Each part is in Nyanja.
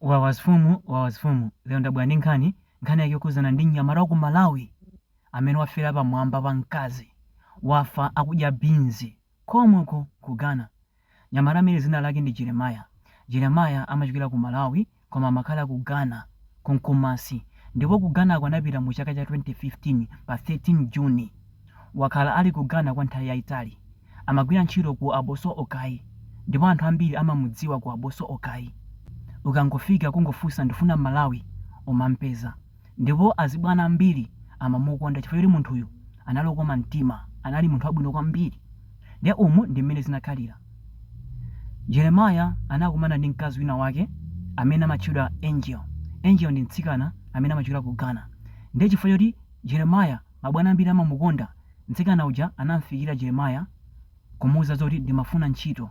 Wawa zfumu wawa zfumu lero ndabwera ndi nkhani, nkhani yake yokhudzana ndi mnyamata wa ku Malawi amene wafera pa mwamba pa mkazi, wafa akudya beans komweko ku Ghana. Mnyamata amene dzina lake ndi Jeremiah, Jeremiah amachokera ku Malawi koma amakhala ku Ghana ku Kumasi ndipo ku Ghana ko anapita mu chaka cha 2015 pa 13 June. Wakhala ali ku Ghana kwa nthawi yaitali. Amagwira ntchito ku Abossey Okai ndipo anthu ambiri amamudziwa ku Abossey Okai. Ukangofika kungofunsa ndifuna Mmalawi, umampeza. Ndipo azibwana ambiri amamukonda chifukwa choti munthuyu anali okoma mtima, anali munthu wabwino kwambiri. Ndiye umu ndi mmene zinakhalira. Jeremiah anakumana ndi mkazi wina wake amene amatchedwa Angel. Angel ndi mtsikana amene amachokera ku Ghana. Ndiye chifukwa choti Jeremiah. Mabwana ambiri amamukonda. Mtsikana uja anamfikira Jeremiah kumuuza zoti ndimafuna ntchito.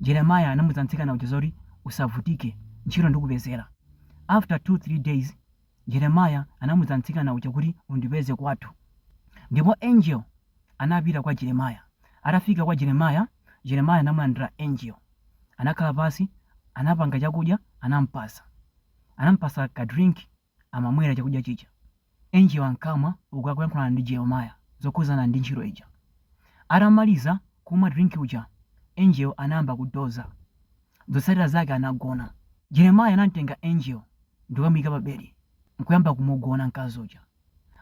Jeremiah anamuza mtsikana uja zoti usavutike, ntchito ndikupezera. After 2 3 days Jeremiah anamuza mtsikana uja kuti undipeze kwathu. Ndipo Angel anapita kwa Jeremiah. Atafika kwa Jeremiah, Jeremiah anamulandira Angel. Anakhala pansi, anapanga chakudya, anampasa. Anampasa ka drink. amamwera chakudya chija. Angel ankamwa uku akuyankhulana ndi Jeremiah zokhuzana ndi ntchito ija. Atamaliza kumwa drink uja Angel anayamba kudoza. Zotsatira zake anagona. Jeremiah anamtenga Angel ndikukamuika pa bedi nkuyamba kumugona mkazi uja.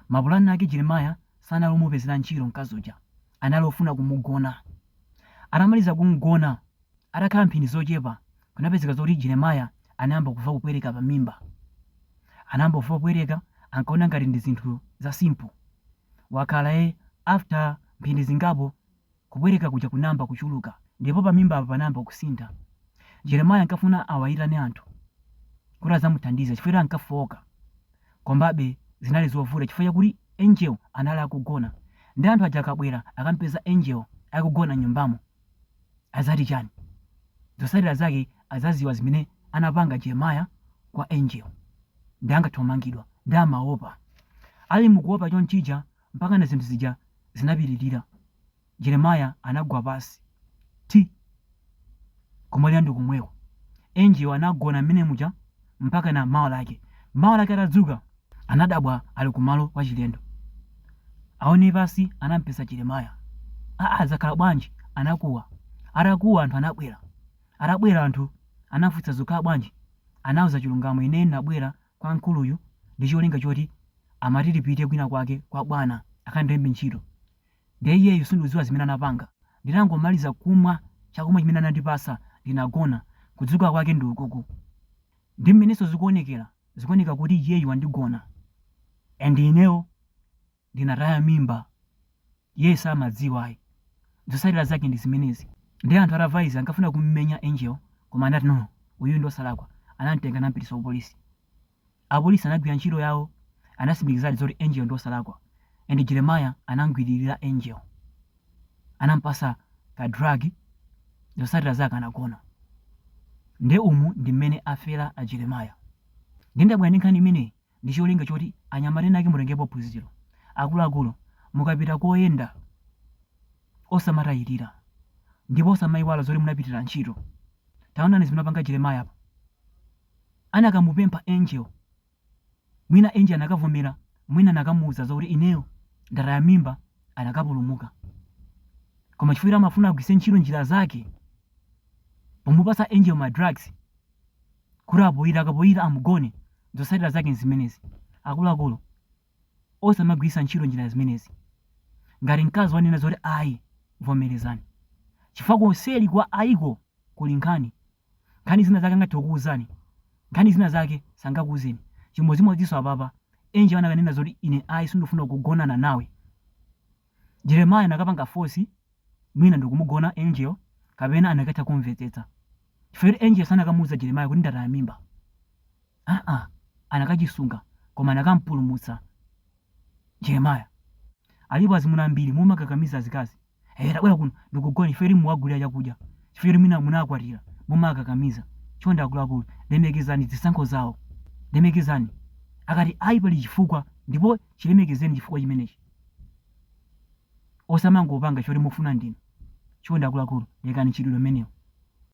Mapulani ake Jeremiah sanali omupezera ntchito mkazi uja, anali ofuna kumugona. Atamaliza kumgona Atakhala mphindi zochepa, kunapezeka zoti Jeremiah anayamba kuva kupweteka pa mimba. Anayamba kuva kupweteka ankaona ngati ndi zinthu za simple. Wakhala ee after mphindi zingapo kupweteka kuja kunayamba kuchuluka ndipo pa mimba apa panayamba kusintha. Jeremiah ankafuna awayitane anthu kuti azamuthandize chifukwa choti ankafooka komabe zinali zovuta chifukwa chakuti Angel anali akugona nde anthu aja akabwera akamupeza Angel akugona nyumbamo. azati chani zotsatira zake azaziwa zimene anapanga jeremiah kwa angel nde angathomangidwa nde amaopa ali mukuopa chonchija mpaka na zinthu zija zinapitirira jeremiah anagwa pasi ndi kumwalira ndi komweko angel anagona mmene muja mpaka na mawa lake mawa lake atadzuka Anadabwa ali ku malo kwa chilendo aone pasi anampeza Jeremiah aa zakhala bwanji anakuwa atakuwa anthu anabwera atabwera anthu anamfunsa zakhala bwanji anauza chilungamo ine nabwera kwa mkuluyu ndi cholinga choti amati tipite kwina kwake kwa bwana akandilembe ntchito nde ineyo sinduziwa zimene anapanga nditangomaliza kumwa chakumwa chimene anandipasa ndinagona kudzuka kwake ndi ukuku Ndi mmenenso zikuonekera, zikuoneka kuti iyeyu wandigona and ineyo ndinataya mimba, iyeyo samadziwa ayi. Zotsatira zake ndi zimenezi. Ndiye anthu atamva izi ankafuna kumumenya Angel koma apolisi anati no, uyuyu ndi wosalakwa. Anam'tenga anam'pititsa kupolisi. Apolisi anagwira ntchito yawo, anatsimikizadi zoti Angel ndi wosalakwa and Jeremiah anam'gwiririra Angel. anampatsa ka drug zotsatira zake anagona nde umu ndi mmene afera a Jeremiah nde ndabwera ndi nkhani imeneyi ndi cholinga choti anyamata ena ake mutengepo phunziro akuluakulu mukapita koyenda osamatayirira ndipo osamayiwala zoti munapitira ntchito taonani zimene apanga Jeremiah apa anakamupempha angel Mwina Angel anakavomera, mwina anakamuuza zokuti ineyo ndataya mimba anakapulumuka. Koma chifukwa choti amafuna agwiritse ntchito njira zake pomupatsa Angel ma drugs kuti apoyira akapoyira amugone, zotsatira zake nzimenezi. Akuluakulu osamagwiritsa ntchito njira zimenezi. Ngati mkazi wanena zoti ayi, vomerezani chifukwa konseli kwa ayiko kuli nkhani. Nkhani zina zake angathe kukuuzani, nkhani zina zake sangakuuzeni. Chimodzimodzinso apapa, Angel anakanena zoti ine ayi sindifuna kugonana nawe. Jeremiah anakapanga force mwina ndikumugona Angel kapena anakatha kumvetsetsa. Chifukwa choti Angel sanakamuuza Jeremiah kuti ndataya mimba. Aa anakachisunga koma anakampulumutsa Jeremiah. Alipo azimuna ambiri mumakakamiza azikazi. Eya, tabwera kuno ndikugone chifukwa choti muwagulira chakudya, chifukwa choti mwina munawakwatira mumawakakamiza. Chonde akuluakulu, lemekezani zisankho zawo. Lemekezani. Akati ayi pali chifukwa ndipo chilemekezeni chifukwa chimenechi. Osamangopanga choti mufuna ndinu. Chonde akuluakulu, lekani mchitidwe umenewu.